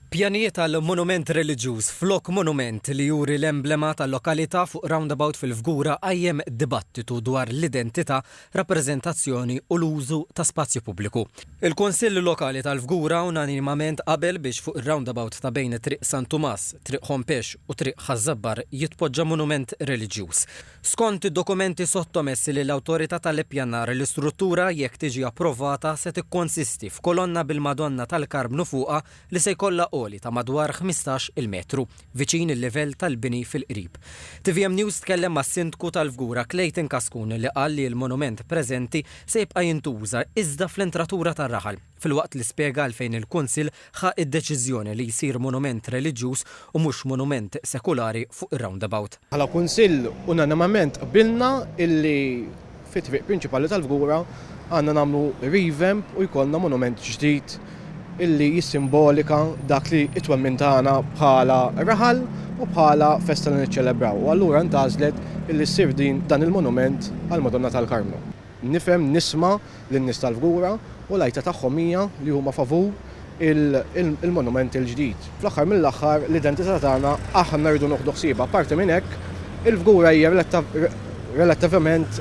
Pjanijiet għal monument reliġjuż flok monument li juri l-emblema tal-lokalità fuq roundabout fil-Fgura qajjem dibattitu dwar l-identità, rappreżentazzjoni u l-użu ta' spazju pubbliku. Il-Kunsill Lokali tal-Fgura unanimament qabel biex fuq ir-roundabout ta' bejn Triq San Tumas, Triq Ħompex u Triq Ħaż-Żabbar jitpoġġa monument reliġjuż. Skont id-dokumenti sottomessi lill-Awtorità tal-Ippjanar, l-istruttura, jekk tiġi approvata, se tikkonsisti f'kolonna bil-Madonna tal-Karmnu fuqha li se jkollha għoli ta' madwar ħmistax il-metru, viċin il-livell tal-bini fil-qrib. Tvm News tkellem mas-Sindku tal-Fgura Clayton Cascun li qal li l-monument preżenti se jibqa' jintuża iżda fl-entratura tar-raħal. filwaqt li spjega għalfejn il-Kunsill ħa d-deċiżjoni li jsir monument reliġjuż u mhux monument sekulari fuq ir-roundabout. Bħala Kunsill unanimament qbilna illi fit-triq prinċipali tal-Fgura għandna nagħmlu revamp u jkollna monument ġdid illi jissimbolika dak li t-twemmin tagħna bħala raħal u bħala festa li niċċelebraw u allura ntgħażlet illi ssir dan il-monument għall-Madonna tal-Karmnu. Nifhem, nisma' lin-nies tal-Fgura u l-għajta tagħhom hija li huma favur il-monument il-ġdid. Fl-aħħar mill-aħħar l-identità tagħna aħna rridu nieħdu ħsiebha. Apparti minn hekk, il-Fgura hija relattivament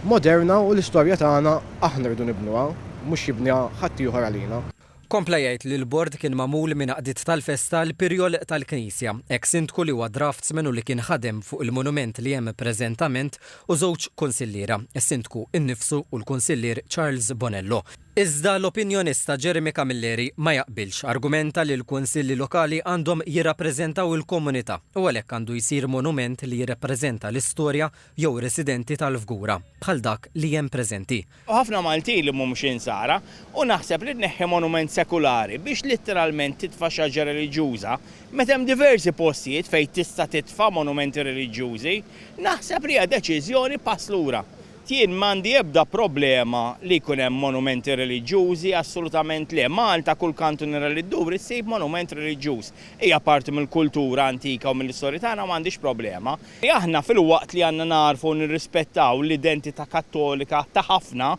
moderna u l-istorja tagħna aħna rridu nibnuha, mhux jibniha ħaddieħor għalina. Kompla jgħid li l-Bord kien magħmul minn għaqdiet tal-festa l-Pirjol tal-Knisja, eks-Sindku li huwa draftsman u li kien ħadem fuq il-monument li hemm preżentament u żewġ Kunsilliera, is-Sindku innifsu u l-Kunsillier Charles Bonello. Iżda l-opinjonista Jeremy Camilleri ma jaqbilx, argumenta li l-Kunsilli Lokali għandhom jirrappreżentaw il-komunità u għalhekk għandu jsir monument li jirrappreżenta l-istorja jew residenti tal-Fgura, bħal dak li hemm preżenti. u ħafna Maltin li mhumx Insara, u naħseb li tneħħi monument sekulari biex litteralment titfa' xaġra reliġjuża, meta hemm diversi postijiet fejn tista' titfa' monumenti reliġjużi, naħseb li hija deċiżjoni pass lura. Jien m'għandi ebda problema li jkun hemm monumenti reliġjużi, assolutament le. Malta kull kantunera li dduri ssib monument reliġjuż. Hija parti mill-kultura antika u mill-istorja tagħna u m'għandix problema. Li aħna filwaqt li għandna nagħrfu u nirrispettaw l-identità Kattolika ta' ħafna,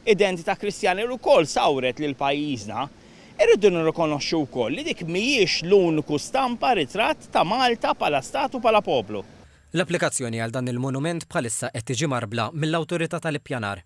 identità Kristjana li wkoll sawret lil pajjiżna, irridu nirrikonoxxu wkoll li dik mhijiex l-uniku stampa, ritratt, ta' Malta bħala Stat u bħala poplu. L-applikazzjoni għal dan il-monument bħalissa qed tiġi mgħarbla mill-Awtorità tal-Ippjanar.